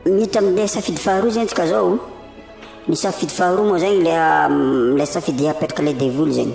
miditra amle safidy faharoa zegny tsika zao ny safidy faharoa moa zegny le le safidy apetraka le devoly zegny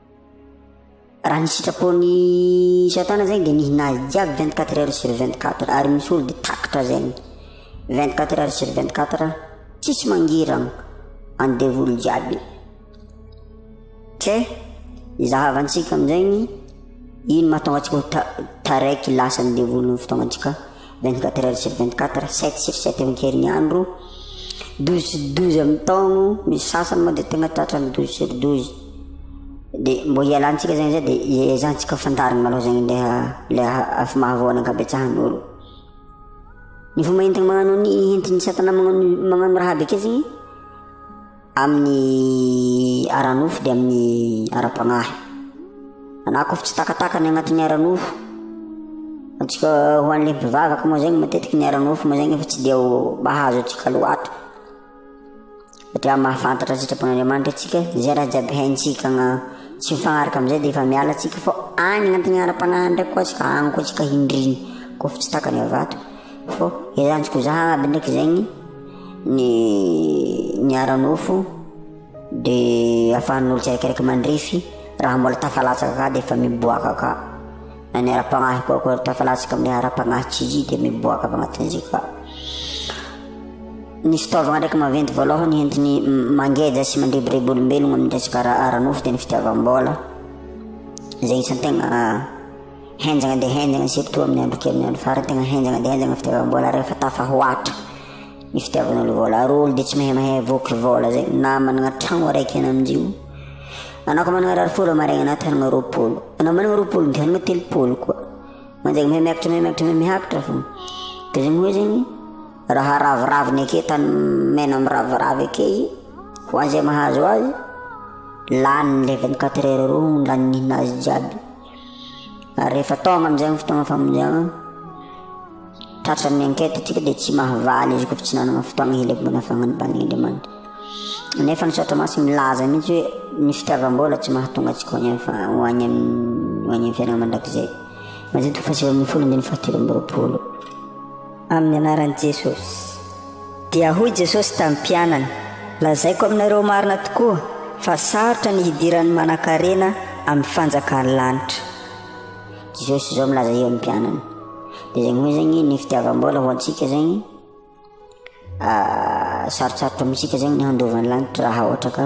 Raha ny sitrapon'i Satana zegny de mihina azy jiaby vingt quatre heures sur vingt quatre ary misy olo de takatra zegny vingt quatre heures sur vingt quatre tsisy mangiragna any devoly jiaby ke izahavantsika amizegny ino mahatonga antsika ho ta- taraiky lasa ny devoly ny fotoagna antsika. Vingt-quatre heures sur vingt-quatre, sept sur sept amin'ny herinandro, douze sur douze amin'ny taogno, misy sasany moa dia tegna tratran'ny douze sur douze, dia mbô hialantsika zegny zay dia hiezahantsika fantarigny malôha zegny le le afo mahavoa ny ankabetsahan'olo, ny fomba entigny magnano ny entin'ny satana magnano magnano raha be akeo zegny. Amin'ny ara-nofo dia amin'ny ara-panahy. Anako avy tsy takataka ny agnatin'ny ara-nofo. Antsika ho an'ilay mpivavaka moa zegny matetiky ny ara-nofo moa zegny efa tsy dia ho mahazo antsika loatra. Satria mahafantatra ny sitrapon'Andriamanitra antsika, zay raha jiaby haintsika agna- tsy mifagnaraka am'zay de efa miala antsika fô agny agnatin'ny ara-panahy agny ndraiky koa tsika agny koa tsika hindrigny kôfa tsy takany avato fô ezahantsika ho zahagna aby ndraiky zegny. ny ny ara-nofo dia ahafahan'olo tsiraikaraika mandrefy raha mbola tafalatsaka ka dia efa miboaka ka, na ny ara-panahy koa koa tafalatsaka amin'ny ara-panahy tsy izy dia miboaka avy anatin'izay ka, ny fitaovana ndraiky maventy voalohany entiny mangeja sy mandrebireby olombelogna amin'ny resaka ara-nofo dia ny fitiavam-bola, zay isan-tegna. Henjana dia henjana isika toa amin'ny andro kely ny andro farany, tena henjana dia henjana ny fitiavam-bola rehefa tafahoatra ny fitiavana ny vola. Ary olo dia tsy mahay mahay voky vola zay, na manana tragno araiky any amin'izay io. Anao ko manana rary folo maraina na te hanana roapolo, anao manana roapolo dia hanana telopolo koa. Manjary mahay miakatra mahay miakatra mahay miakatra fo. Dia zany hoe zany raha raviraviny ake tany mena miraviravy ake ho an'izay mahazo azy, lany ny leventy quatre heures roa lany ny hinazy jiaby. Ary rehefa tonga amin'izay ny fotoana famonjena, tratra ny enquête tsika dia tsy mahavaly izy koa fa tsy nanana fotoana hilemboana fagnanibany Andriamanitra. Nefa ny saotra masy milaza mihitsy hoe ny fitiavam-bola tsy mahatonga antsika ho any amin'ny fa- ho any amin'ny ho any amin'ny fiainana mandrakizay. Mazotoa fahasivy ambin'ny folo andininy fahatelo amby roapolo. Amin'ny anaran'i Jesosy. Dia hoy Jesosy tamin'ny mpianany, Lazaiko aminareo marina tokoa fa sarotra ny hidiran'ny manan-karena amin'ny fanjakan'ny lanitra. Jesosy izao milaza eo amin'ny mpianany. Dia zegny hoe zegny ny fitiavam-bola ho antsika zegny ah, sarotsarotra amintsika zegny ny handovan'ny lanitra raha ohatra ka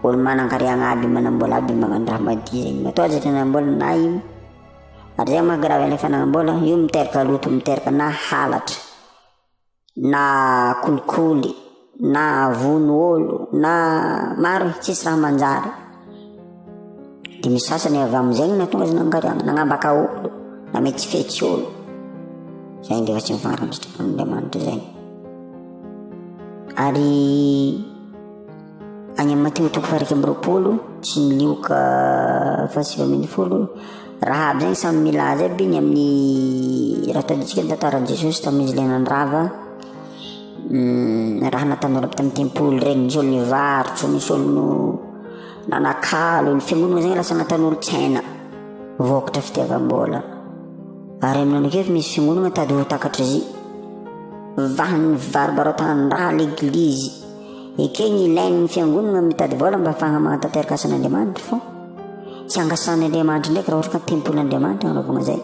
Olo manan-kariagna aby manam-bola aby magnano raha madio zegny. Matoa aza tranam-bola na ino. Ary zegny manko raha alefa nagnam-bola, io miteraka loto, miteraka na halatra, na kolikoly, na vono olo, na maro e, tsisy raha manjary. De misy sasany avy am'zegny nahatonga azy nanan-kariagna, nagnambaka olo, nametsifetsy olo. Zay nge fa tsy mifagnaraka ny sitrapon'Andriamanitra zay. Ary Any amin'ny matiotoko fahairaka amby roapolo sy ny lioka fahasivy ambin'ny folo raha aby zany samy milaza aby ny amin'ny raha tadidintsika ny tantaran'i Jesosy tamin'izy ilay nandrava raha nataon'ny olona tamin'ny tempoly ireny, nisy olo nivarotra, nisy olo no nanakalo, ny fiangonana moa zany lasa nataon'olon-tsaina voakotra fitiavam-bola. Ary aminao ndraiky efa misy fiangonana mitady ho takatr'izy io, vahan'ny fivaribaratana ny rà l'eglizy. Ekeny ilain'ny fiangonana mitady vola mba afahana manatanteraka asan'Andriamanitra fô tsy angasan'ny Andriamanitra ndraiky raha ohatra ka tempolin'Andriamanitra hanaovana zay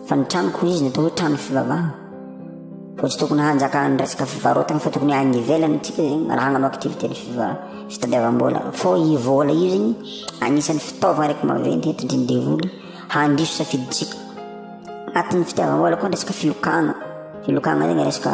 fa ny tranoko izy ny atao hoe trano fivavahana fô tsy tokony hanjaka ny resaka fivarotana fa tokony agny ivelany tsika zegny raha hagnano activité ny fiva- fitadiavam-bola fô i vola io zegny agnisan'ny fitaovana araiky maventy entindry ny devoly handiso safidintsika agnatin'ny fitiavam-bola koa ny resaka filokana filokana zegny resaka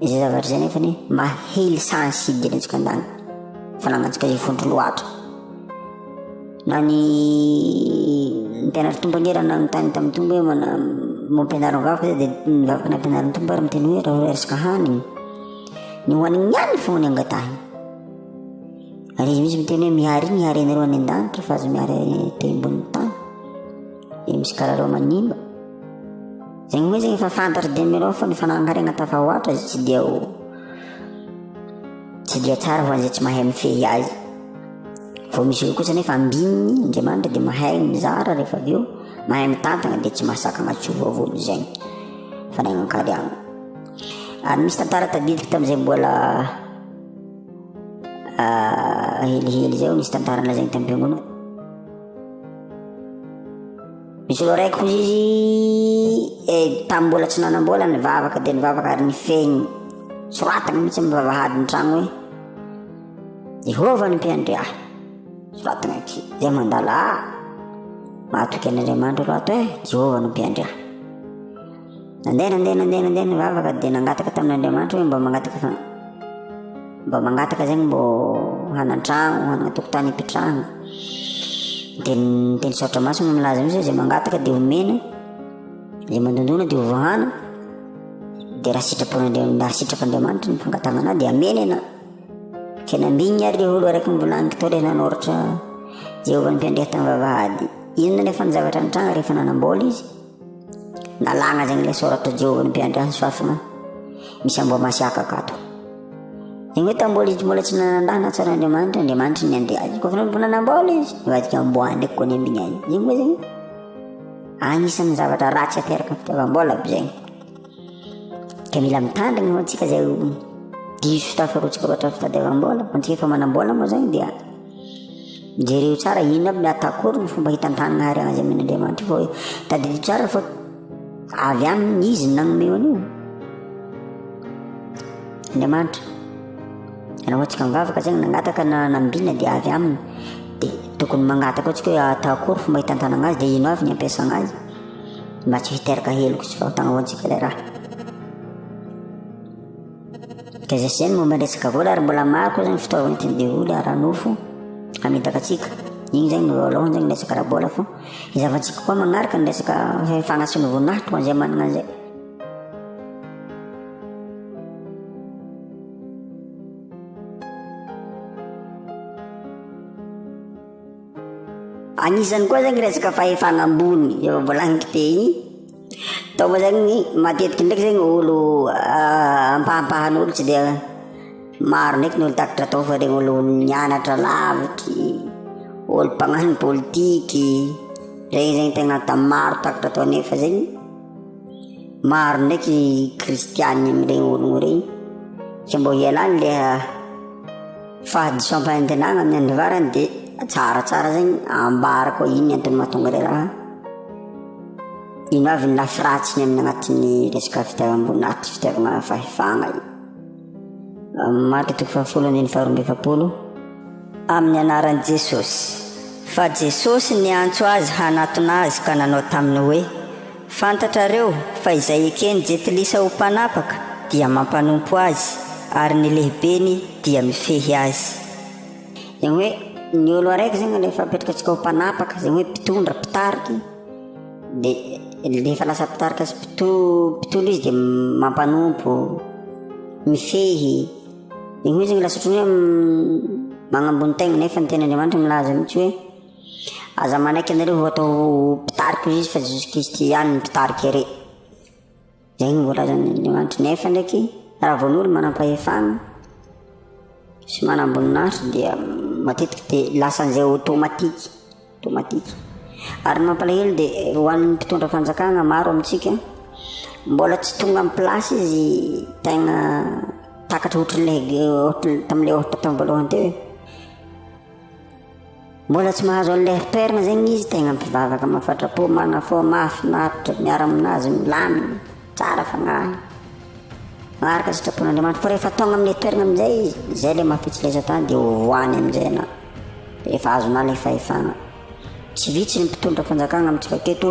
Izay zavatra izay nefa ny mahely sahan'ny sidina etsika an-dany fa nangantsika izay vondro loatra na ny mpianatra tompo angera na mitany tamin'ny tompo hoe mana mampianaro ny vavaka dia ny vavaka nampianarin'ny tompo ary miteny hoe raha resaka haniny ny hohaniny ihany foana ny angatahiny ary izy misy miteny hoe mihary iny mihary anareo any an-danitra fa azo mihary te ambonin'ny tany dia misy karareo manimba Zegny moa zegny efa fantatry Demirao fa ny fanahakarena tafahoatra izy tsy dia ho tsy dia tsara ho an'izay tsy mahay mifehy azy vao misy eo kosa nefa ambininy andriamanitra dia mahay mizara rehefa avy eo mahay mitantana dia tsy mahasakana tsy ho vavony zegny fanagnan-kariagna ary misy tantara tadidiko tamin'izay mbola ah, helihely zay nisy tantara lazainy tam-piangonana Misy olo raiky hozy izy eh, tamin'ny mbola tsy nanam-bola nivavaka dia nivavaka ary nifehiny. Soratana mihitsy amin'ny vavahadin'ny tragno hoe Jehovah ny mpiandry ahy. Soratana aty, dia mandala ahy. Mahatoky an'Andriamanitra aloha ato eh, Jehovah no mpiandry ahy. Nandeha, nandeha, nandeha, nandeha ny vavaka dia nangataka tamin'Andriamanitra hoe mba mangataka fa mba mangataka zegny mbô hanan-tragno, hanana tokotany ipitrahana. Dia ny teny saotra masina milaza mihitsy izay mangataka dia homena, izay mandondona dia hovoahana. Dia raha sitrapon'Andriamanitra, raha sitrak'Andriamanitra ny fangatahananao dia amena ianao. Tena ambinigny ary le olo araiky mivolaniko tao le nanoratra Jehovah ny mpiandraikitra ny vavahady. Inona nefa ny zavatra nitranga rehefa nanam-bôla izy? Nalana zegny le soratra Jehovah nbe Andriansoafina misy Amboamasiaka akato. Zegny hoe tambola izy mbola tsy nanandahy na tsara Andriamanitra, Andriamanitra ny andeha azy. Kôfa mbo nanambola izy, nivadika amboa ndraiky kony ambiny azy. Zegny hoe zegny, agnisan'ny zavatra ratsy ateraka fitiavam-bola aby zegny. dia mila mitandrina moa antsika izay diso tafarotsaka loatra ny fitadiavam-bola fa antsika efa manam-bola moa izany dia jereo tsara inona aby atakory ny fomba hitantanana ary azy amin'Andriamanitra vao tadidio tsara fa avy aminy izy ny nanome an'io Andriamanitra raha antsika mivavaka zegny nangataka na nambina dia avy aminy dia tokony mangataka antsika hoe atakory fomba hitantanana azy dia ino avy ny ampiasana azy mba tsy ho hiteraka heloka sy fahotana ho antsika ilay raha. Dia izay izay ny momba ny resaka vola ary mbola maro koa izany fitaovana entin'ny devoly ara-nofo hamitaka antsika. Igny izany no voalohany izany ny resaka ara-bola fa hizavantsika koa manaraka ny resaka fagnasiana voninahitra ho an'izay manana an'izay. Anisany koa zany resaka fahefana ambony efa voalagniko teo igny, tao moa zany matetiky ndraiky zany olo ampahampahan'olo tsy dia maro ndraiky ny olo takatra tao fa le olo nianatra lavitry, olo mpagnano politiky, regny zany tena maro takatra tao nefa zegny. Maro ndraiky kristianina amin'ireny ologno ireny tsy mbo ialany le fahadisoam-panantenana amin'ny andro farany dia tsaratsara zegny ambara koa ino ny antony mahatonga le raha. Ino avy ny lafy ratsiny amin'ny anatin'ny resaka fitiavam-bola na tsy fitiavana fahefana io. Marka toko fahafolo andininy faharoa amby efapolo amin'ny anaran'i Jesosy. Fa Jesosy niantso azy hanatona azy ka nanao taminy hoe. Fantatrareo fa izay eken'i Jetilisa ho mpanapaka dia mampanompo azy, ary ny lehibeny dia mifehy azy. Izany hoe ny olo araiky izany no efa apetrakantsika ho mpanapaka, izany hoe mpitondra, mpitarika, dia rehefa lasa mpitarika sy mpitondra izy dia mampanompo, mifehy, izany hoe lasa ohatran'ny hoe manambony tegna nefa ny tenin'Andriamanitra milaza mihintsy hoe. Aza manaiky anareo ho atao mpitariko izy fa Jesosy Kristy ihany no mpitarika re. Zay no voalazan'ny Andriamanitra. Nefa ndraiky, raha vao ny olo manam-pahefana sy manam-boninahitra dia matetika dia lasa an'izay automatique, automatique. Ary ny mampalahelo dia ho an'ny mpitondra fanjakana maro amintsika, mbola tsy tonga amin'ny place izy tegna takatra ohatran'ilay ohatran'ny tamin'ilay ohatra tamin'ny voalohany teo e. Mbola tsy mahazo an'ilay sperme zegny izy tegna mpivavaka mafatrapo marina fô mahafinaritra miara aminazy milamigny tsara fagnahy maharaka sitrapon'Andriamanitra fô rehefa tonga amin'ny toeragna amin'izay izy zay le mampitsilesa tany de hovoany amin'izay anao efa azonao le fahefagna tsy vitsy ny mpitondra fanjakagna amintsika aketo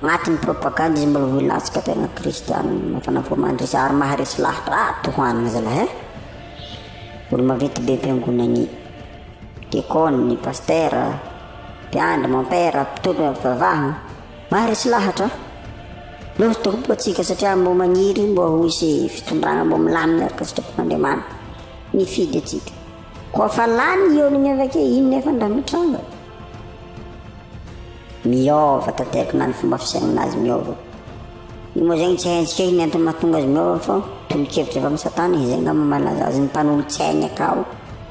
agnatin'ny propagande izy mbola ho ilantsika tegna kristiana mafana fô mandresy ary maharesy lahatra ah tohanigny zalahy eh olo maventy be am-piangonagny Dikôny, Pastera, Mpiandry, Mômpera, Mpitondra Mpivavaha, maro tsy lahatra an! Loza tokoa ho antsika satria mbo magniry mbo ho hisy fitondrana mbo milamina araka sitrapon'Andriamanitra nifidy antsika. Koa fa lany io ny miavake iny nefa ndra mitranga. Miôva tanteraka na ny fomba fisainana azy miôva. Io moa zegny tsy haintsika iny antony mahatonga azy miôva fa tolokevitra avy amin'ny Satana izay ngamba malaza azy ny mpanolotsaigny akao.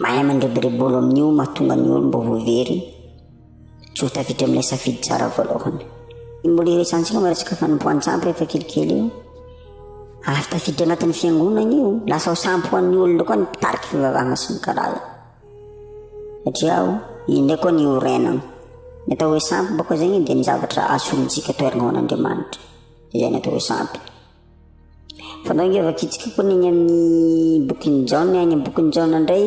mahay mandreboribolo amin'io mahatonga ny olo mba ho very tsy ho tafiditra amin'ilay safidy tsara voalohany ny mbola iresantsika mba resaka fanompoan-tsampy efa kelikely io avy tafiditra anatin'ny fiangonana io lasa ho sampy ho an'ny olona koa ny mpitarika fivavahana sy ny karaza satria aho indray koa ny orenana ny atao hoe sampy bako zegny dia ny zavatra asolontsika toerana ho an'andriamanitra izay ny atao hoe sampy Fanao nge vakitsiko kony any amin'ny bokin'i Jaona, any amin'ny bokin'i Jaona indray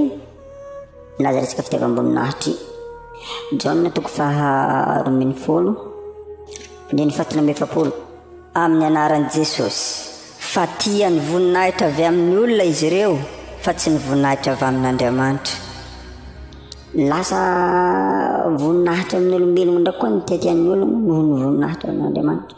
milaza resaka fitiavam-boninahitra io. Jaona toko faha roa ambin'ny folo, andininy fahatelo amby efapolo. Amin'ny anaran'i Jesosy, fa tia ny voninahitra avy amin'ny olona izy ireo, fa tsy ny voninahitra avy amin'Andriamanitra. Lasa voninahitra amin'ny olombelogno indray koa ny tiatian'ny ologno noho ny voninahitra amin'Andriamanitra.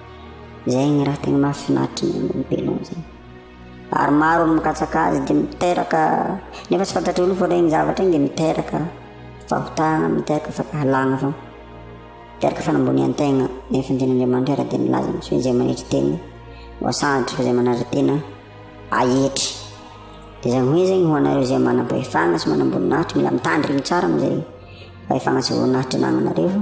Izay ny raha tena mahafinaritra ny ain'olombelona zany. Ary maro ny mikatsaka azy dia miteraka nefa tsy fantatr'io ny fotoana iny zavatra iny dia miteraka fahotana, miteraka fankahalana fa miteraka fanambonian-tegna nefa ny tenin'Andriamanitra ary dia milaza amin'ny hoe izay manetry tena voasanatry fa izay manatra tena ahetry. Dia izany hoe zegny ho anareo izay manam-pahefana sy manam-boninahitra mila mitandrigny tsara amin'izay fahefana sy voninahitra anagnanareo fa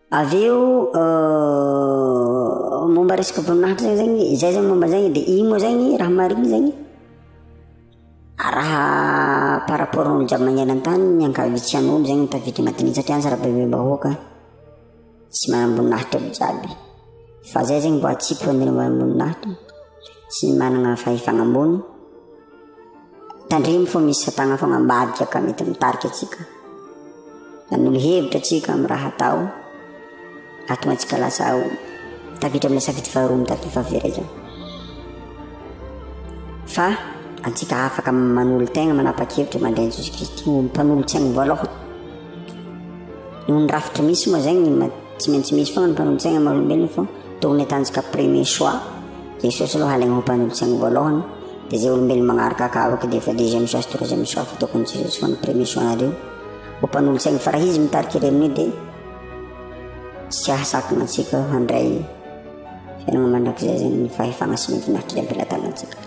Avy eo momba resaka voninahitra zany zegny, zay zany momba zay de igny moa zany raha marigny zany raha par rapport ny olo jiaby magnera an-tany ny ankabitsihagnin'olo zany tafiditra agnatin'igny satria any zara-bahoaka tsy manam-boninahitra aby jiaby fa zay zany mba atsipy fa ny manam-boninahitra sy ny managna fahefagna ambony. Tandremo fa misy satana foana ambadika ka mety mitarika antsika nanolo hevitra antsika amin'ny raha atao ahatonga antsika lasa ao tafiditra amin'ny safidy faharoa mitafy fahaverezana fa antsika afaka manolo tegna manapa-kevitra mandray an'i Jesosy Kristy ho mpanolotsaigny voalohany Noho ny rafitra misy moa zegny tsy maintsy misy foana ny mpanolotsaigna maha olombelogno fô tokony atanjaka premier choix Jesosy aloha halaigny ho mpanolotsaigny voalohany dia zay olombelogno magnaraka aka avy akeo dia efa deuxième choix sy troisième choix fa tokony Jesosy foana premier choix nareo ho mpanolotsaigny fa raha izy mitarika ireo amin'io dia tsy hahasakana antsika handray fiainagna mandrakizay zegny ny fahefagna sy ny voninahitry Ndraiky Lahatagny antsika.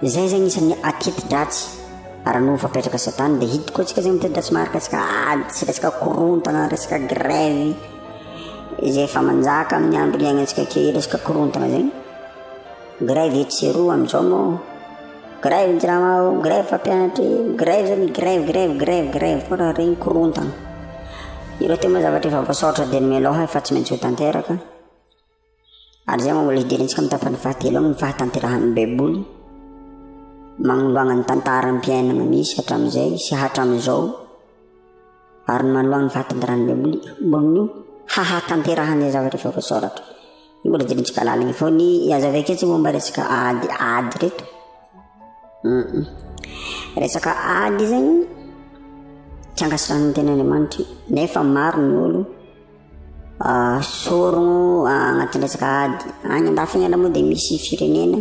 izay zegny isan'ny aketi-dratsy raha no fapetraka satana dia hidiko antsika zegny miteti-dratsy maharaka antsika ady sy resaka korontana resaka grève izay efa manjaka amin'ny andro iainantsika key resaka korontana zegny grève etsy sy eroa amin'izao moa Grève ny jirama ao, grève mpampianatra e, grève zany, grève, grève, grève, grève foana, regny korontana. Ireo teo moa zavatra efa voasaotra dia ny melo hay fa tsy maintsy ho tanteraka. Ary zay moa mbola hidirantsika amin'ny tapany fahatelo amin'ny fahatanterahan'ny Baiboly. Magnoloagna ny tantaram-piainana misy hatramin'izay sy hatramin'izao. ary manoa ny vaton'ny rano Baiboly amboniny hahatanterahan'ny zavatra efa voasoratra. Io mbola jirontsika laliny fa ny azo avy aketsy momba resaka ady ady reto. Mm. Resaka ady zegny tsy ankasitrahan'ny tenin'Andriamanitra nefa maro ny olo ah, sorogno agnatin'ny resaka ady. Agny andafy agny aloha moa dia misy firenena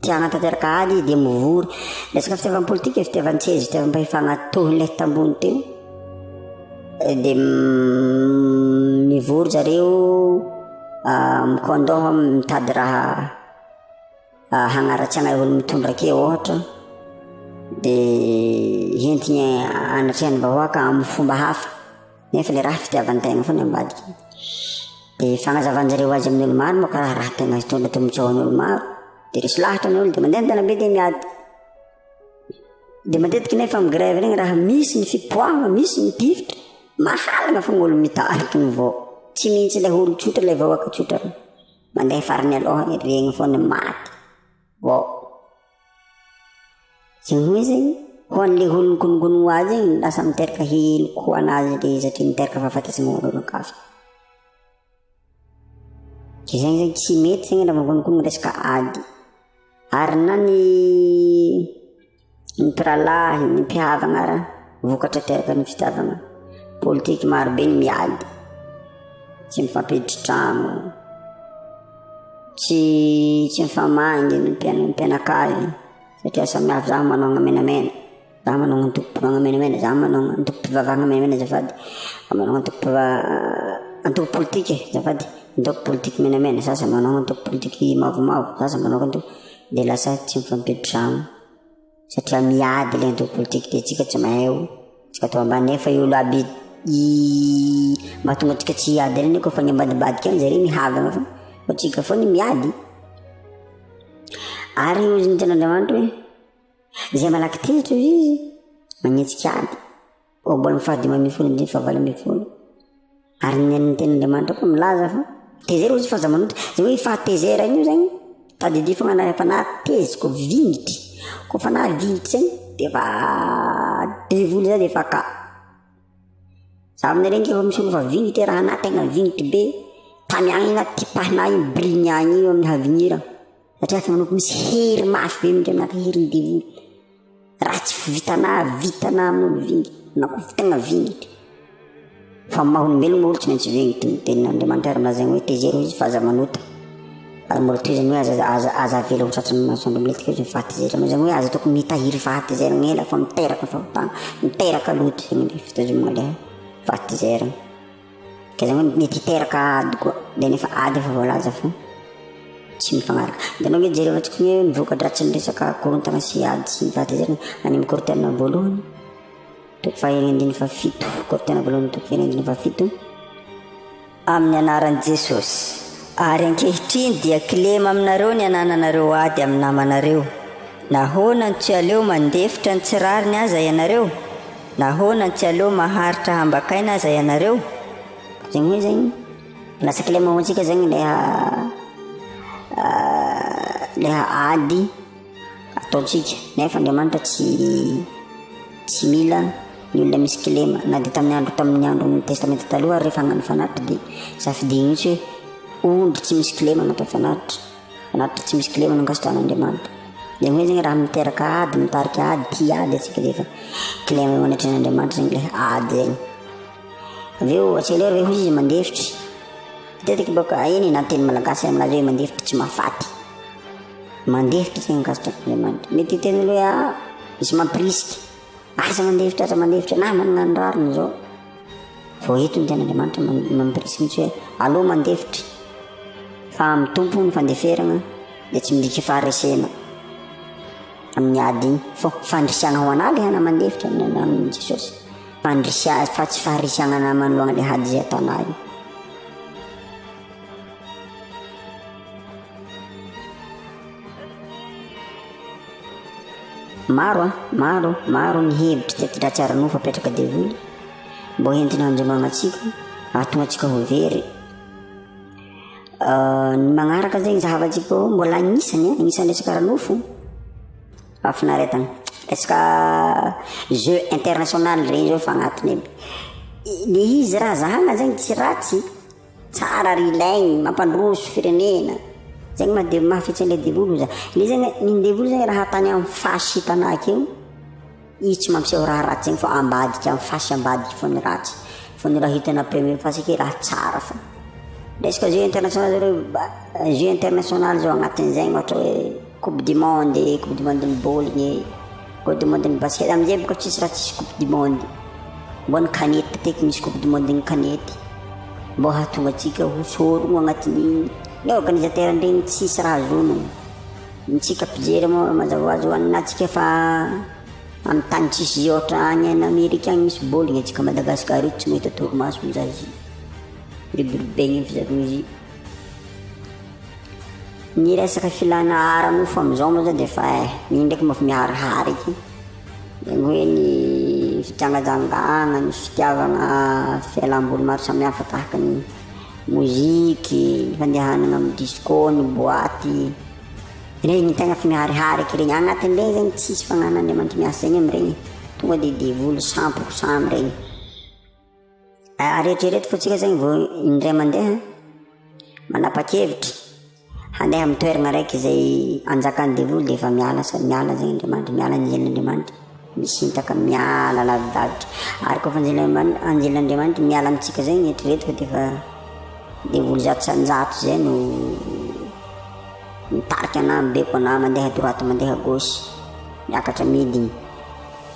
Te hanatanteraka ady izy dia mivory. Resaka fitiavan'ny politika, fitiavan-tseza, fitiavam-pahefana toy ilay tambony teo. Eh, dia mm, mivory zareo ah, mikondoha mitady raha ah, hagnaratsy anay olo mitondra ke ohatra dia hentigny anatrehan'ny vahoaka amin'ny fomba hafa. Nefa le raha fitiavan-tegna foana ambadika e. De fagnazavan-jareo azy amin'olo maro manko raha raha tegna hitondra tombotsoa hoan'olo maro. De resy lahatra ny olo de mandeha an-dalambe de miady. De matetiky nefa am grève regny raha misy ny fipoahagna, misy ny tifitra, mahalana foagna olo mitariky ny vao, tsy mintsy le olo tsotra le vahoaka tsotra, mandeha farany aloha regny foana maty. Waouh. Zay hoe zay ho an'ilay olona nikononkonona ho azy iny lasa miteraka hihino koa anazy ilay izy satria miteraka fahafatesana ho an'olon-kafa. Dia zegny zegny tsy mety zegny raha mikononkonona resaka ady. Ary na ny ny mpirahalahy, ny mpihavana ara vokatra teraka ny fitiavana politika maro be ny miady tsy mifampiditry trano tsy tsy mifamangy ny mpianakavy satria samihafa za manao ny menamena za manao ny antoko mpivavahana menamena za manao ny antoko mpivavahana menamena azafady za manao ny antoko mpiva- antoko politika azafady antoko politika menamena sasany manao antoko politika mavomavo sasany manao antoko dia lasa tsy mifampiantrano satria miady ilay antoko politika dia tsika tsy mahay io tsika to ambany nefa io laby i mahatonga tsika tsy hiady ireny koa fa ny ambadibadika any zareo mihavana fa fa tsika foana miady ary io ny ten'Andriamanitra hoe izay malaky tezitra izy manetsika ady Ohabolana fahadimy ambin'ny folo andininy fahavalo ambin'ny folo. Ary ny an'ny tenin'Andriamanitra koa milaza fa tezera ozy fa aza manota. Zay hoe fahatezera io zany tadidio fa manana fanahy tezitra vignitry. Koa fanahy vignitry zany dia efa devoly zany efa ka. Za aminareo nge efa misolo fa vignitry raha anahy tegna vignitry be. Tany agny na tipahinay igny bris-ny agny io amin'ny havignirana. satria efa nanompo misy hery mafy be amin'Andriamanitra herin'ny devoly raha tsy vitana vitana amin'olo vingy na koa vitana vingitra fa maha olombelona olo tsy maintsy vingy toy ny tenin'Andriamanitra ary milazaigny hoe taizero izy fa aza manota ary mbola tohizany hoe aza aza aza avela ho tratran'ny masoandro miletika izy ny fahatezerana moa zany hoe aza tokony mitahiry fahatezerana ela fa miteraka fahotana miteraka loto zany le fitazomana le fahatezerana Dia izao ny ity teraka ady koa dia nefa ady efa voalaza fa tsy mifanaraka. Dia ianao ve jereo antsika hoe ny voka-dratsin'ny resaka korontana sy ady sy ny fahatezerana any amin'ny kortena voalohany toko fahen'ny andininy fahafito kortena voalohany toko fahen'ny andininy fahafito amin'ny anaran'i Jesosy. Ary ankehitriny dia kilema aminareo ny anananareo ady amin'ny namanareo. Nahoana no tsy aleo mandefitra ny tsy rariny aza ianareo? Nahoana tsy aleo maharitra hambakaina aza ianareo? Zegny hoe zegny lasa kilema ho antsika zegny le le ady ataontsika nefa Andriamanitra tsy tsy mila ny olona misy kilema na de tamin'ny andro tamin'ny andron'ny testamenta taloha ary rehefa hagnano fanatitra de safidiagny mihitsy hoe ondry tsy misy kilema no atao fanatitra. Anaty tsy misy kilema no ankasitrahan'Andriamanitra. Dia hoe zegny raha miteraka ady, mitarika ady, tia ady atsika dia efa kilema eo anatrehan'Andriamanitra zegny ilay ady zegny. Avy eo accelere ve hozy izy mandefitry? Matetiky bôka eny na teny malagasy aminazy hoe mandefitry tsy mahafaty. Mandefitry zegny ankasitrahan'Andriamanitra. Mety hiteny olo hoe ah misy mampirisika, aza mandefitry, aza mandefitry, na manana ny rariny zao. Vao eto ny Tenin'Andriamanitra mampirisika mihitsy hoe aleo mandefitra fa amin'ny Tompo ny fandeferana dia tsy midika faharesena amin'ny ady iny fa fandrisihana ho an'ady hana mandefitra amin'ny ananan'i Jesosy fandrisihana fa tsy faharisihana manoloana ilay ady izay ataonao iny Maro an, maro, maro ny hevitry teto dratsy ara-nofo apetraka devoly mbo hentina andriamagna tsika ahatonga tsika ho very. Ah, ny magnaraka zegny zahavatsika eo mbola agnisany an, agnisany resaka ara-nofo. Hafinaretagna. Resaka jeu international regny zao efa agnatiny aby. Le izy raha zahagna zegny tsy ratsy. Tsara ry Laigny, mampandroso firenena. Zegny ma de maha fetsy an'ilay devoly oza. Ilay izy zany, iny devoly zany raha tany amin'ny fasy sy tanaky eo, izy tsy mampiseho raha ratsy zegny fa ambadika amin'ny fasy ambadika fao ny ratsy. Fa ny raha hitanà après amin'ny fasy akeo raha tsara fao. Resaka jeux international zao reo, ba- jeux international zao agnatin'izay ohatra hoe. Coupe du monde e, coupe du monde ny baolina e, coupe du monde ny basket, amin'izay bôka tsisy raha tsisy coupe du monde. Mbô ny kanety teko misy coupe du monde ny kanety. Mbô hahatonga antsika ho sorogno agnatin'igny. Ny organisateur ndregny tsisy raha azonao. Ny tsika mpijery moa mazava hoazy ho an'atsika fa amin'ny tany tsisy izy ôhatra agny en Amerika agny misy baolina, antsika Madagasikara eto tsy mahita torimaso mizaha izy. Mirobirobegna eo fizaragna izy. Ny resaka filana ara nofo amin'izao moa zany dia efa eh, io ndraiky mba efa miharihary eky. Ny hoe ny fijangajangana, ny fitiavana fialam-boly maro samihafa tahaka ny moziky, ny fandehanana amin'ny disco, ny boaty. Ireny ny tegna efa miharihary eky regny. Agnatin'ireny zany tsisy fagnanan'Andriamanitra miasa egny amin'ireny. Tonga dia devoly sampy ho samy regny. Aretriereto fotsika zany vao indray mandeha manapa-kevitra handeha amin'ny toerana araiky izay anjakan'ny devoly dia efa miala sa miala zay Andriamanitra, miala ny anjelin'Andriamanitra, misintaka miala lavidavitra. Ary koa fa anjelin'Andriamanitra, anjelin'Andriamanitra miala amintsika zay ny eritreretika dia efa devoly zato sa njato zay no mitarika anah, mibeko anah mandeha droite mandeha gauche miakatra midiny.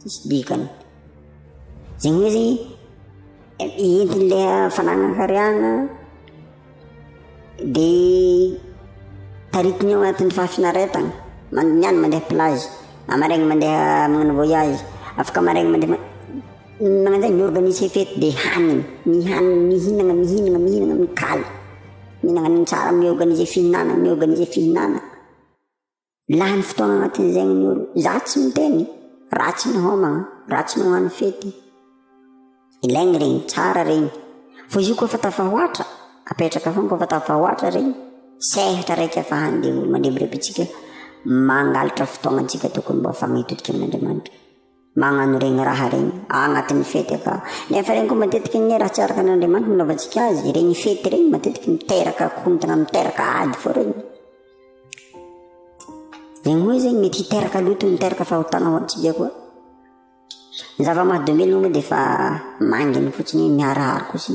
Tsisy dikany. Zay hoe zay entin'ny le fananan-karena de taritiny ao anatin'ny fahafinaretana, mandiniany mandeha plage, maraina mandeha magnano voyage, afaka maraina mandeha ma- magnano zay mi-organiser fety de hanina, mihanina, mihinana, mihinana, mihinana, mikaly, mihinana ny tsara, mi-organiser fihinanana, mi-organiser fihinanana. Lany fotoana anatin' zegny ny olo, za tsy miteny, ratsy ny homagna, ratsy ny hoany fety, ilaigny regny, tsara regny, fô izy io kô fa tafahoatra, apetraka fôgna kô fa tafahoatra regny, sehatra raiky afa handeha olo mandrebireby antsika, mangalatra fotoagna antsika tokony mbô afa maitokiky amin' Andriamanitra. magnano regny raha regny agnatin'ny fety aka nefa regny ko matetiky anie raha tsy araka ny Andriamanitra nanaovantsika azy regny fety regny matetiky miteraka korontana miteraka ady fô regny regny hoe zegny mety hiteraka loto miteraka fahotana ho antsika koa ny zava-mahadomelina moa de fa manginy fotsiny hoe miharaharo ko sy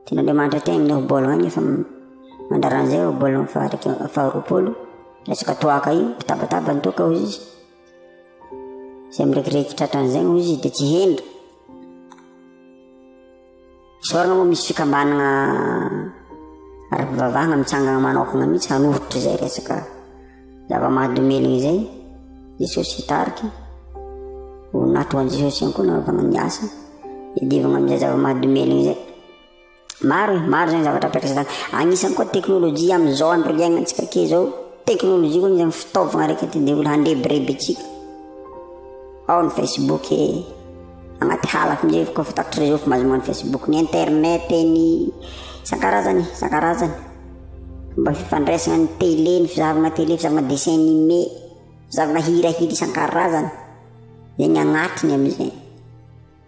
tena Andriamanitra te amin'ny obologna agny efa mandraran'izay obologna faharoapolo resaka toaka io mitabataba ny toaka hoy izy Izay mirediredy tratra an'izay moa izy dia tsy hendry. Isaorana moa misy fikambanana ara-pivavahana mitsangana manokana mihitsy hanohitra izay resaka zava-mahadomelina izay. Jesosy hitarika, ho natro an'i Jesosy ihany koa nanaovana ny asa, hiadivana amin'izay zava-mahadomelina izay. Maro e, maro zany zavatra apetraka zany. Agnisany koa teknolojia amizao andro iaignantsika ke zao, teknolojia koa agnisany fitaovagna raiky te nde olo handrebireby atsika. Ao ny Facebook e, agnaty halako amizay efa koa fa tapitry reseau fa mahazo magnano Facebook, ny internet e, ny isankarazany e, isankarazany. Fomba fifandraisagna, ny tele, ny fizahavagna tele, fizahavagna dessin animé, fizahavagna hirahira isankarazany, zegny agnatiny amizay.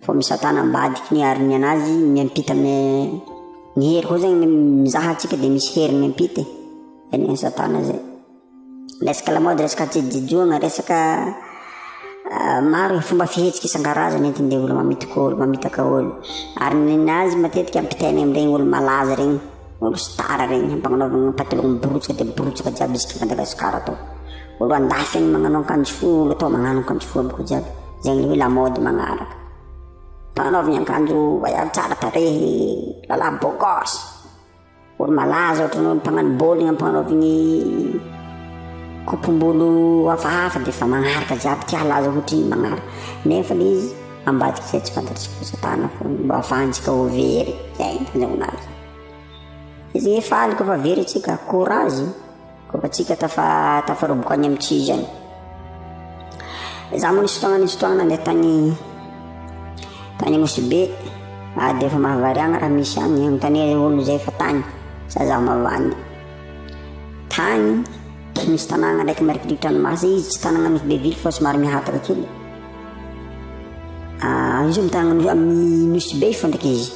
Fa misatana ambadiky ny ariny anazy miampita me ny hery koa zegny mizaha antsika de misy hery miampita e zay ny satana zay resaka lamaody resaka tsijojoagna resaka maro e fomba fihetsiky isan-karazany entin-devoly mamitaka olo mamitaka olo ary ninazy matetika ampitainy amregny olo malaza regny Omby sy tara regny ampagnanovagna pataloha miborotsoka de miborotsoka jiaby isika Madagascar atô olo andafy agny magnano ankanjo fohy olo atô magnano ankanjo fohy aby ko jiaby zegny le hoe la mode magnaraka ampagnanovagna ankanjo vaiavy tsara tarehy lala beau gosse olo malaza ohatrany hoe mpagnano bôligny ampagnanovagny kopom-bolo hafahafa defa magnaraka jiaby tia halaza ohatrigny magnaraka nefa le izy ambadika izay tsy fantatr'i Satana foana mba ahafahantsika ho very izay nandrahona azy. Izay efa aliko fa very antsika, courage, koa fa tsika tafa tafaroboka any amin'ny tsy izany. Za moa nisy fotoagna nisy fotoagna nandeha tagny tagny Nosy-Be, ah dia efa mahavariagna raha misy agny, anontania zay olo zay fa tagny, sa zaho mavandy. Tagny, misy tanàgna ndraiky marikidrikitry ranomasy, izy tsy tanàgna Nosy-Be ville fa somary mihataka kely. Izy mitangana amin'ny Nosy Be fo ndraika izy.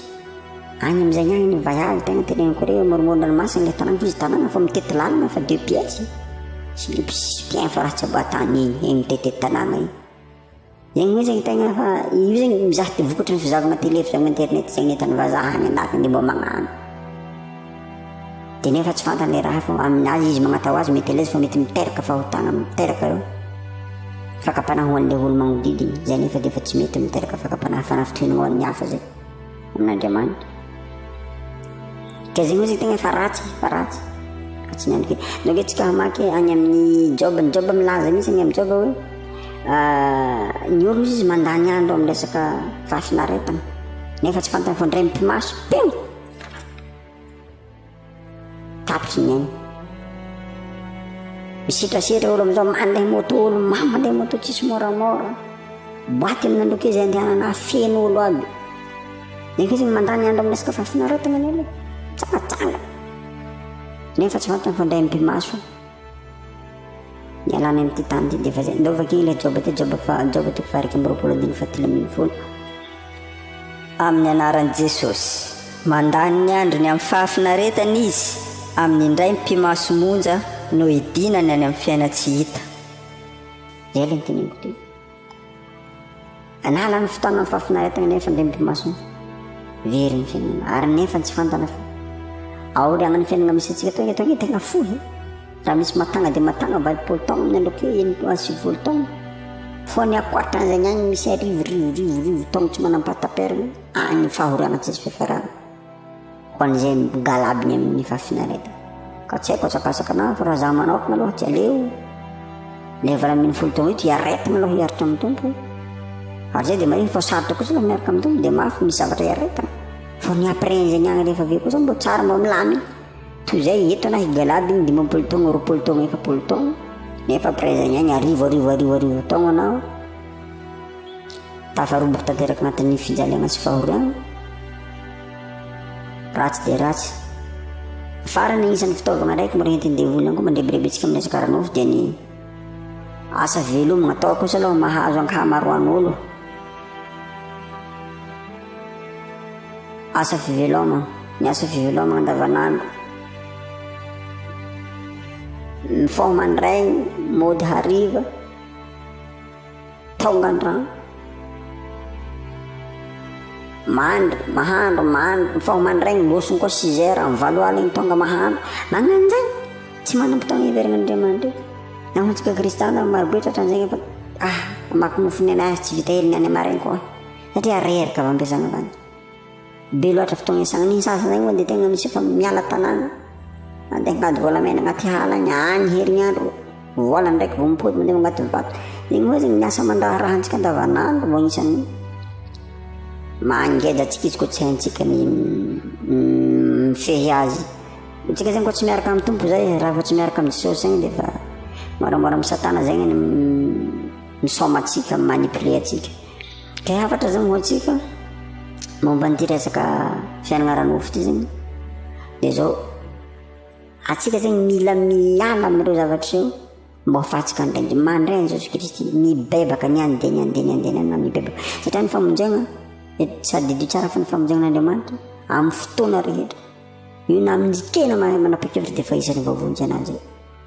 Any amin'izay ihany ny vaiavy tena teneniko hoe moromoron'ny ranomasina ilay tanàna fa izy tanàna fa mitety lalana fa deux pièces. Tsy le mpiain fa raha tsy mba tany eny eny mitete tanàna eny. Zegny moa zegny tegna fa io zegny mizaha ty vokatry ny fizahavana télé fizahavana internet zegny hitan'ny vazaha any anatiny dia mba magnano. Dia nefa tsy fantany ilay raha fa amin'ny azy izy magnatao azy mety eleza fa mety miteraka fahotana miteraka ireo fakam-panahy ho an'ilay olo-magnodidiny izay nefa dia efa tsy mety miteraka fakam-panahy fanafitohina ho an'ny hafa izay amin'Andriamanitra dia izay moa izay tegna fa ratsy fa ratsy fa tsy miandry kely donc hoe tsika hamaky any amin'ny joba ny joba milaza mihitsy any amin'ny joba hoe ny olo izy mandany andro amin'ny resaka fahafinaretana nefa tsy fantany fa ndray mipimaso ping Tapitra ny ainy. Misitrasetra olo amin'izao mandeha moto olo mamy mandeha moto tsisy moramora. Boaty ny nandroka izy andehanana feno olo aby. Nefa izy mandany andro amin'ny resaka fahafinaretana ny olo. Tsaratsara. Nefa tsy fantany fa indray mibimaso. Miala any amin'ity tany ity dia efa izay. Ndao vakio ilay Joba ity, Joba faha, Joba toko faha iraika amby roapolo andininy fahatelo ambin'ny folo. Amin'ny anaran'i Jesosy. Mandany ny androny amin'ny fahafinaretana izy amin'ny indray mipi-maso monja no hidinany any amin'ny fiaina tsy hita. Izay ilay noteneniko teo. Anala ny fotoana ny fahafinaretana nefa dia mipimaso ny very ny fiainana ary nefa tsy fantana fa aoriana ny fiainana misy antsika toy eto ny tena fohy raha misy matanga dia matanga valopolo taona ny androko enimpolo any sivifolo taona fa ny ankoatran'izany any misy arivo rivo rivo rivo taona tsy manam-pahataperana any fahoranantsisy fiafarana Ho an'izay migalabny amin'ny fahafinaretana. Ka tsy haiko atsakasaka na fa raha za manaokna aloha tsy aleo le valo ambin'ny folo taona io dia aretina aloha hiaritra amin'ny tompo ary zay dia marina fa sarotra kosa aloha miaraka amin'ny tompo dia mafy misy zavatra iaretana fa ny après an'izay ny agny rehefa avy eo kosa mbo tsara mbo milamina toy zay eto ana higalaba igny dimampolo taogna roapolo taogna efapolo taogna nefa après zay ny agny arivo arivo arivo arivo taogna anao Tafarombaka tanteraka anatin'ny fijaliana sy fahoriana. Ratsy dia ratsy. Farany isan'ny fitaovana araiky mora entin'ny devoly ihany koa mandrebirebintsika amin'ny resaka ara-nofo dia ny asa velomina atao kosa aloha mahazo ankahamaroan'olo. Asa fivelomana, ny asa fivelomana andavanandro. Ny fao mandray, mody hariva. Tonga ny rano. Mandry, mahandro, mandry, mifaho mandraigny, loso koa six heures, amin'ny valo aligny tonga mahandro. Magnanjay, tsy manam-potoagna hiverina Andriamanitra. Na ho antsika kristiana marobe tratran'izay efa ah, mamaky nofo ny anay tsy vita hely ny any amaregny koa. Satria reraka avy am-piasana avy any. Be loatra fotoagna isan'andro igny sasany zagny moa de tegna misy efa miala tanàgna mandeha angady volamena agnaty ala agny, agny herignandro vôla ndraiky vao mipody mandeha magnady vato, igny moa zagny ny asa aman-draharaha antsika andavanandro mbô agnisan'ny mangeja antsika izy koa tsy haintsika ny mifehy azy, antsika zagny koa tsy miaraka amin'ny Tompo zay raha vao tsy miaraka amin'i Jesosy zagny de fa môramôra amin'i satana zegny ny misaoma antsika, mi-manipuler antsika. Te hafatra zany ho antsika momba an'ity resaka fiainana ara-nofo ity zegny dia zao atsika zegny mila miala amin'ireo zavatra io mba ho fatsika an'Andriamanitra mandray an'i Jesoa Kristy mibebaka ny andeha ny andeha ny andeha ny andeha mibebaka satria ny famonjegna sady dio tsara fa ny famonjegna an'Andriamanitra amin'ny fotoana rehetra io na amin'ny tena manapa-kevitra dia efa isan'ny voavonjy ananjy io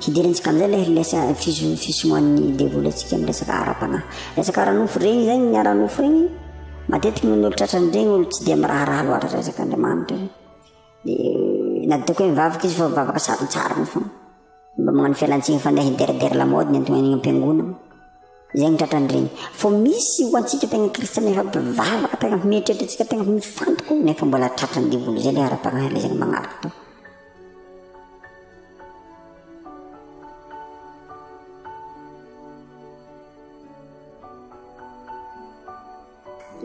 Hidirantsika amin'izay ilay lesa fiso- fisomoan'ny devoly antsika amin'ny resaka ara-panahy. Resaka ara-nofo ireny izay ny ara-nofo ireny, matetika noho ny olo tratrany ireny olo tsy dia miraharaha loatra resaka Andriamanitra ireny. Dia na dia ataoko hoe mivavaka izy fa mivavaka sarontsarony foana. Mba magnano fialantsiny fa ndeha hideradera lamaody ny anton'ainy am-piangonana. Izay ny tratrany ireny. Fa misy ho antsika tegna kristiana efa mpivavaka tegna mieritreritra antsika tegna mifantoka io nefa mbola tratran'ny devoly izay ilay ara-panahy ilay izay magnaraka.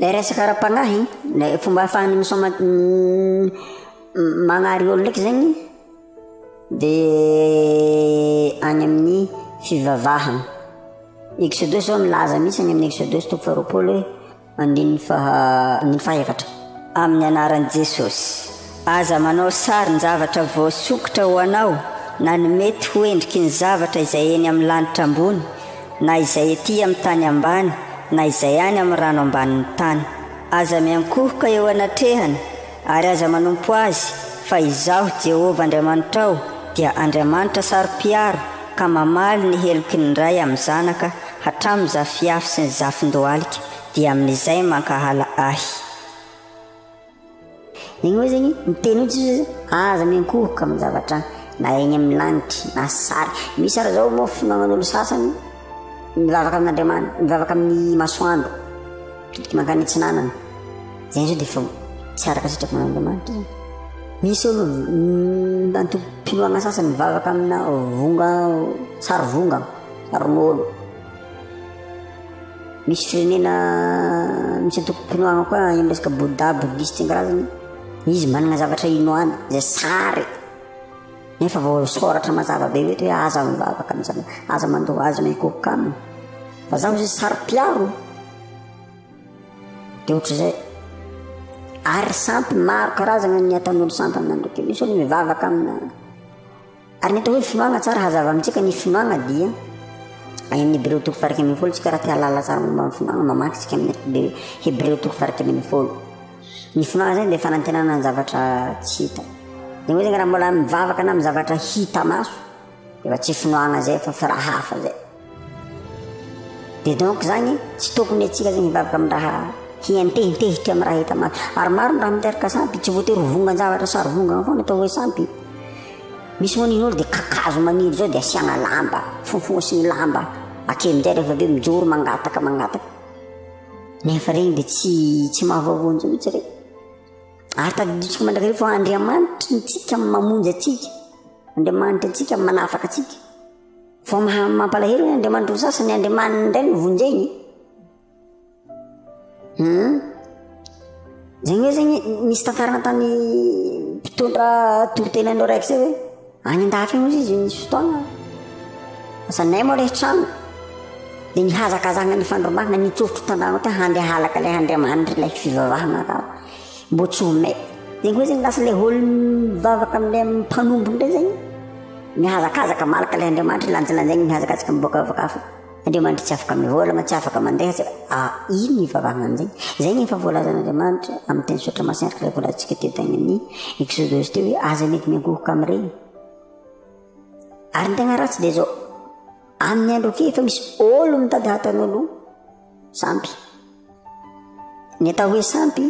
Ilay resaka ara-panahy, ilay fomba ahafahan'ny misaoma magnary olona ndraiky zegny de any amin'ny fivavahana. Exodus zao milaza mihitsy any amin'ny Exodus toko faharoapolo hoe. Andininy faha andininy faha efatra. Amin'ny anaran'i Jesosy, aza manao sarin-javatra voasokitra ho anao na ny mety ho endriky ny zavatra izay eny amin'ny lanitra ambony, na izay ety amin'ny tany ambany, na izay any amin'ny rano ambanin'ny tany. Aza miankohoka eo anatrehany Ary aza manompo azy, fa Izaho, Jehovah Andriamanitrao, dia Andriamanitra saro-piaro, ka mamaly ny heloky ny ray amin'ny zanaka, hatramin'ny zafiafy sy ny zafin-dohalika, dia amin'izay mankahala Ahy. Eny hoe zegny, miteny hoe Jiosy zay, aza miankohoka amin'ny zavatra na egny amin'ny lagnitry, na sary. Misy ary zao moa finoagnan'olo sasany, Mivavaka amin'Andriamanitra, mivavaka amin'ny masoandro, mitodika mankany atsinanana. Zay zao dia efa tsy araka sitrapo an'Andriamanitra zany. Misy olo mm, antom-pinoana sasany mivavaka amina vonga, sary vonga, sarin'olo. Misy firenena misy antom-pinoana koa amin'ny resaka Bouddha, bouddhiste karazany. Izy manana zavatra inoany, zay sary. Efa voasoratra mazava be mety hoe aza mivavaka amin'izany, aza mandoa azy na hikokoka aminy. Fa zaho izy saro-piaro. Dia ohatr'izay. Ary sampy maro karazana ny ataon'olo sampy amina ndoky. Misy olo mivavaka amina. Ary ny atao hoe finoagna tsara hazava amintsika ny finoagna dia any amin'ny Hebreo toko farika amin'ny folo tsika raha te halala tsara momba ny finoagna mamaky tsika amin'ny Hebreo toko farika amin'ny folo. Ny finoana zany dia fanantenana ny zavatra tsy hita. Dia moa zany raha mbola mivavaka na amin'ny zavatra hita maso dia efa tsy finoana zay fa fa raha hafa zay. Dia donc zany tsy tokony atsika zany hivavaka amin'ny raha hientehentehitra amin'ny raha hita maso. Ary maro ny raha miteraka sampy, tsy voatery ho vongan-javatra sary vongana foana atao hoe sampy. Misy moa ny dia kakazo maniry zao dia asiana lamba, fofosigny lamba, akeo amin'izay rehefa avy eo mijoro mangataka mangataka. Nefa regny dia tsy tsy mahavaovao antsika mihitsy regny. Ary tadidintsika mandrakariva fa Andriamanitry ny tsika mamonjy antsika, Andriamanitry antsika manafaka antsika. Fa maha mampalahelo hoe Andriamanitry ny sasany, Andriamaniny indray no vonjegny. Hum. Zegny hoe zegny misy tantarana tany mpitondra toriteny anao raiky zay hoe. Any an-dahatra any ozy izy nisy fotoana zanay moa ilay trano dia nihazakazaka nifandrombahana nitsofotra tandrano ohatra handeha halaka ilay andriamanitra ilay fivavahana ka mbo tsy ho mety dia koa zegny lasa ilay olo mivavaka amin'ilay mpanompo indray zegny mihazakazaka malaka ilay andriamanitra lanjalanjaigny mihazakazaka miboaka avy kafa Andriamanitra tsy afaka mivolagna, tsy afaka mandeha, tsy ah, ino ny ivavahagna an'izay? Izay ny efa voalazan'Andriamanitra amin'ny teny sotra masina araka ilay voalazantsika teo tagny amin'ny Exodosy teo hoe aza mety miangohoka amin'ireny. Ary ny tegna ratsy dia izao, amin'ny andro ake efa misy ôlo mitady hahatany ôlo sampy. Ny atao hoe sampy,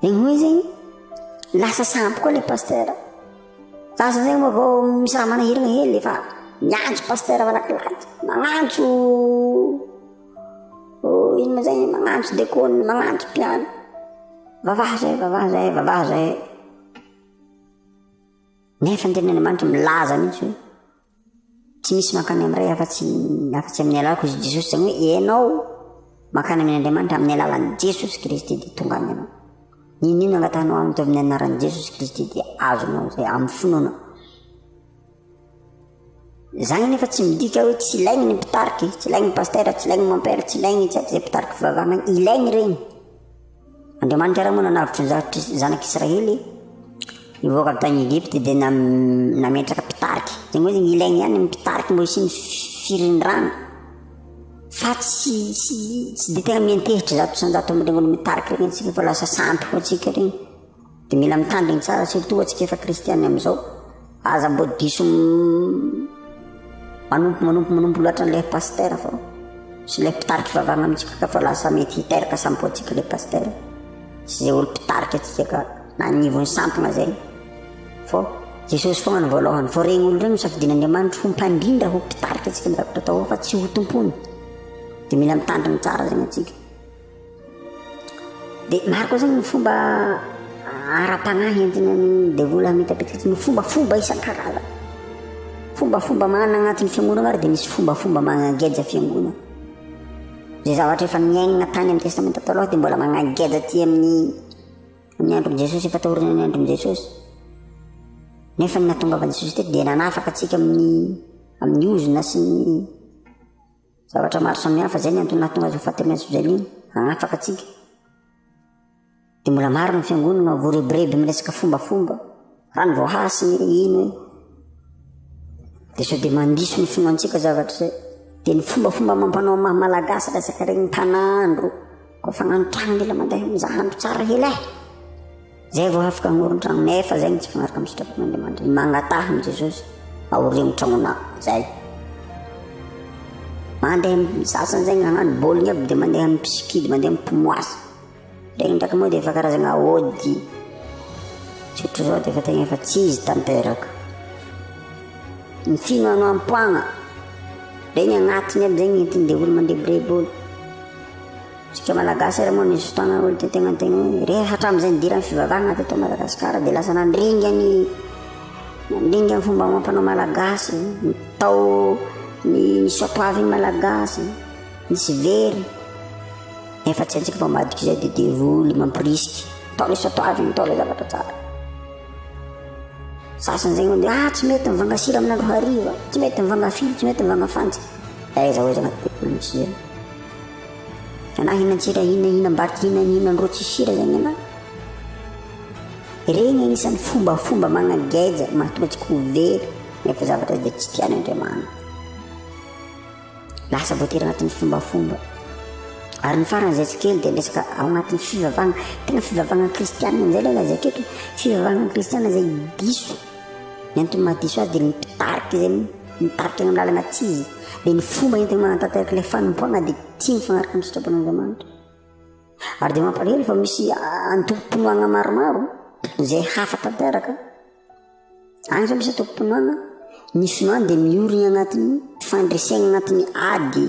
Dia hoy izy, lasa sampy koa ilay pasitera. Za izao zegny vao misy raha manahirana hely efa miantso pasitera malakilaky, magnantso oh, ino ma zay, magnantso dekôny, magnantso mpiano. Vavaha zay, vavaha zay, vavaha zay. Nefa ny tenin'Andriamanitra milaza mihitsy hoe Tsy misy mankany amin'ny Ray afa-tsy afa-tsy amin'ny alalako izy Jesosy, izany hoe ianao mankany amin' Andriamanitra amin'ny alalan'i Jesosy Kristy dia tonga any ianao. N'inon'inona angatahanao aminy teo amin'ny anaran'i Jesosy Kristy dia azonao izay amin'ny finoana. Izany nefa tsy midika hoe tsy ilaigny ny mpitarika, tsy ilaigny ny pasitera, tsy ilaigny ny mompera, tsy ilaigny itsy izay mpitarika fivavahana, ilaigny ireny. Andriamanitra iray moa nanavotra ny zanaky zanak'i Israely hivoaka avy tany Egypte dia nam- nametraka mpitarika. Zany hoe ilainy ihany ny mpitarika mba hisian'ny fi- firindrana. Fa tsy tsy tsy dia tena miantehitra zato isan-jato amin'ireny olo-mitarika ireny isika fa lasa sampy foana isika ireny. Dia mila mitandrigny tsara surtout antsika efa kristianina amizao, aza mbô diso manompo manompo manompo loatra an'ilay pasteur fa sy ilay mpitarika fivavahana amintsika ka fa lasa mety hiteraka sambo antsika ilay pasteur sy izay olo mpitarika antsika ka na anivon'ny sampona zay fô Jesosy foagna no voalohany fô regny olo regny safidian'Andriamanitra ho mpandrindra ho mpitarika antsika amizay zavatra atao fa tsy ho tompony dia mila mitandrigny tsara zegny antsika Dia maro koa zany ny fomba ara-panahy entina ny devoly hamitapitaka ny fombafomba isan-karazany. Fombafomba manana agnatin'ny fiangonana ary dia misy fombafomba magnageja fiangonana. Zay zavatra efa niainana tany amin'ny testamenta taloha dia mbola magnageja aty amin'ny amin'ny andron'i Jesosy efa taoriana ny andron'i Jesosy. Nefa ny nahatongavan'i Jesosy teto dia nanafaka antsika amin'ny amin'ny ozona sy ny Zavatra maro samihafa izay ny antony nahatonga azy ho fatemezitra izay mino hanafaka antsika. Dia mbola maro ny fiangonana voarebireby miresaka fombafomba raha ny voahasiny hoe ino e. Dia sao dia mandiso ny finoantsika zavatra izay. Dia ny fombafomba amam-panao maha malagasy resaka regny tanandro. Koa fa nanotrano mila mandeha mizaha andro tsara hela eh! Zay vao afaka hagnoron-trano nefa zay no tsy mifanaraka amin'ny sitrapon'Andriamanitra. Magnataha amin'i Jesosy aorian'ny tragnonao zay. Mandeha amin'ny sasany zay nagnano bowling aby dia mandeha amin'ny pisikidy, mandeha amin'ny pimoasy. Ndraindraiky moa dia efa karazagna aody. Tsy ohatrizao dia efa tegna efa tsy izy tanteraka. Ny finoanao am-poagna, regny agnatiny aby zay ny entiny dia olo mandrebireby olo. Tsika malagasy ary moa misy fotoana olo te tegna tegna hoe re hatramizay nidiran'ny fivavahana teto Madagasikara dia lasa nandringa ny nandringa ny fomba amam-panao malagasy, ny tao ny ny soatoavin'ny malagasy, misy very nefa tsy haintsika fa ambadika izay dia devoly mamporisika, atao ilay soatoavina, atao ilay zavatra tsara. Sasany zegny mandeha ah tsy mety mivanga sira amin'andro hariva, tsy mety mivanga afily, tsy mety mivanga fantsika, aiza ho aiza agnaty devoly misy zay. Ianao hinan-tsira inona hihinam-bato inona ny inona ny roa tsisy sira zany ianao. Ireny anisan'ny fombafomba magnageja mahatonga tsy ho very nefa zavatra izay tsy tian'Andriamanitra. Lasa voatery agnatin'ny fombafomba. Ary ny farany izay tsy kely dia resaka ao agnatin'ny fivavahana, tena fivavahana kristianina amin'izay ilay lazaiko eto, fivavahana kristianina izay diso. Ny antony maha diso azy dia ny mpitarika izay Mitarika eny amin'ny lalana tsia izy, dia ny fomba entiny manatanteraka ilay fanompoana dia tia mifanaraka amin'ny sitrapon'Andriamanitra. Ary dia mampalahelo fa misy antokom-pinoana maromaro izay hafa tanteraka. Any izao misy antokom-pinoana, ny finoany dia miory ny anatin'ny fandresena anatin'ny ady.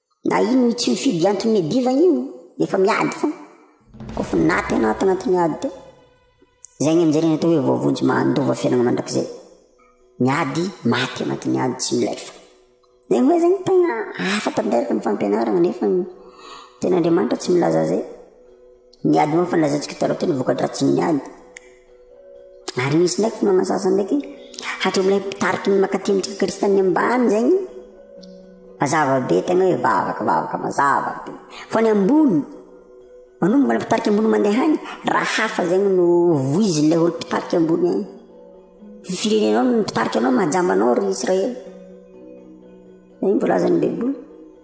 Na ino io tsy mifidy antony le diva io efa miady fona ko fa naty anao tao anatin'ny ady tao zay ny amzay atao hoe voavonjy mandova fiainana mandrakizay miady maty anatin'ny ady tsy milefa zay hoe zany tena hafa tanteraka ny fampianarana nefa ny tena Andriamanitra tsy milaza zay ny ady moa fa nilazantsika taloha teo ny vokadratsin'ny ady Ary misy ndraiky fotoana sasany ndraiky hatramin'ilay mpitariky ny makaty ny trano kristianina ambany zegny mazava be tegna hoe vavaka vavaka mazava be fa ny ambony manomboka ny mpitarika ambony mandeha agny raha hafa zegny no voizin'ilay olo mpitarika ambony agny ny firenenao no mpitarika anao majamba anao ry Israely zegny voalazan'ny baiboly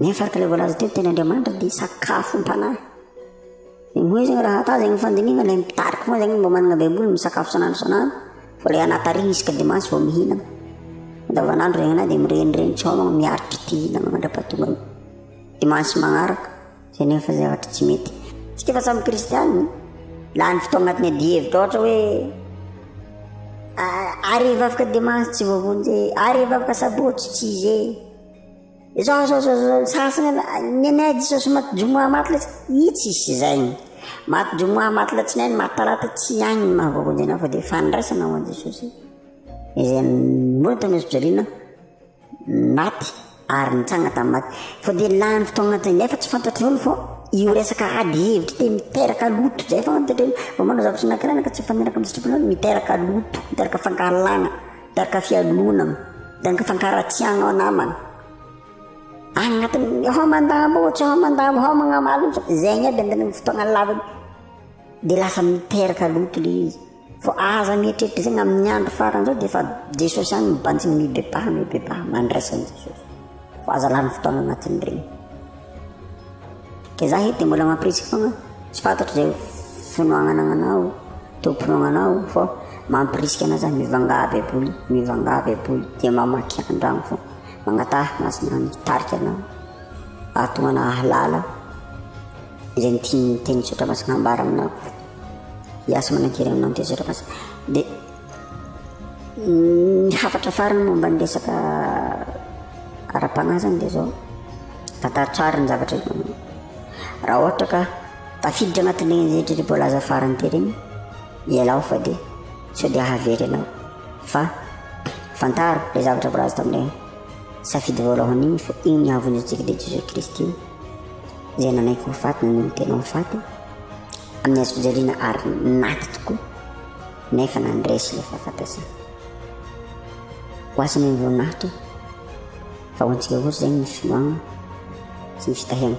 Nefa araka ilay voalaza teo, ny teny Andriamanitra dia sakafom-panahy. Dia moa izy raha hataho zegny fandinihana ilay mitarika foana zegny mba managna baiboly misakafo isan'andro isan'andro fa ilay anaty ary isaka dimanche vao mihinana. Andavan'andro zegny anah dia mirenireny tsy hômagna miaritra ity hihinagna mandra-pahatonga ny dimanche magnaraka zay nefa zavatra tsy mety. Isika efa samy kristianina, lany fotoagna agnatin'ny adihevitra ôhatra hoe ary hivavaka dimanche tsy voavonjy e, ary hivavaka sabotsy tsy zay. Izao izao izao izao sasany aloha ah, ny anay diso sy maty jomoa maty letsy ih tsy hisy izay maty jomoa maty latsinainy maty talata tsy agny ny mahavoavonjy anao fa dia fandraisana ho an'i jesosy izay mbola tao amin'ny fijaliana maty ary nitsanga tamin'ny maty fa dia lany fotoagna zay nefa tsy fantatry olo fa io resaka ady hevitra dia miteraka loto zay foagna ny toetrany vao manao zavatra anankiray anao ka tsy mifaniraka amin'ny sitraponao miteraka loto miteraka fankahalana Danga fialonana, danga fankaratsiahana namana. Any anatin'ny hao mandambo, tsy hao mandambo, hao magnamalo, izay igny aby amin'ny fotoagna laviny. Dia lasa miteraka loto ilay izy. Vao aza mieritreritra izay amin'ny andro farany izao dia efa Jesosy ihany mibanjina, mibebaha, mibebaha, mandraisa an'i Jesosy. Fa aza lany fotoagna anatin'ireny. Dia za eto dia mbola mampirisika foana, tsy fantatro izay finoagnana agnanao, tompon' anao fa mampirisika anao za mivangà baiboly, mivangà baiboly dia mamaky an-dragno fô, magnataha masina mitarika anao ahatonga hahalala izay ny tian'ny tenin'ny soratra masina ambara aminao, hiasa manan-kery aminao ny tenin'ny soratra masina dia. Ny hafatra farany momba ny resaka ara-panahy zany dia zao, tantara tsara ny zavatra hita amin'io. Raha ohatra ka tafiditra anatin'ireny rehetra izay voalaza farany teo ireny, ialao fa dia sao dia hahavery anao. Fa fantaro ilay zavatra voalaza tamin'ilay safidy voalohany iny fa iny hahavonjy antsika dia Jesoa Kristy izay nanaiky ho faty, naneho ny tenany ho faty. Amin'ny hazofijaliana ady maty tokoa nefa nandresy ilay fahafatesana. Ho azy ny ireo maty fa ho antsika kosa izay ny finoana sy ny fitahiana.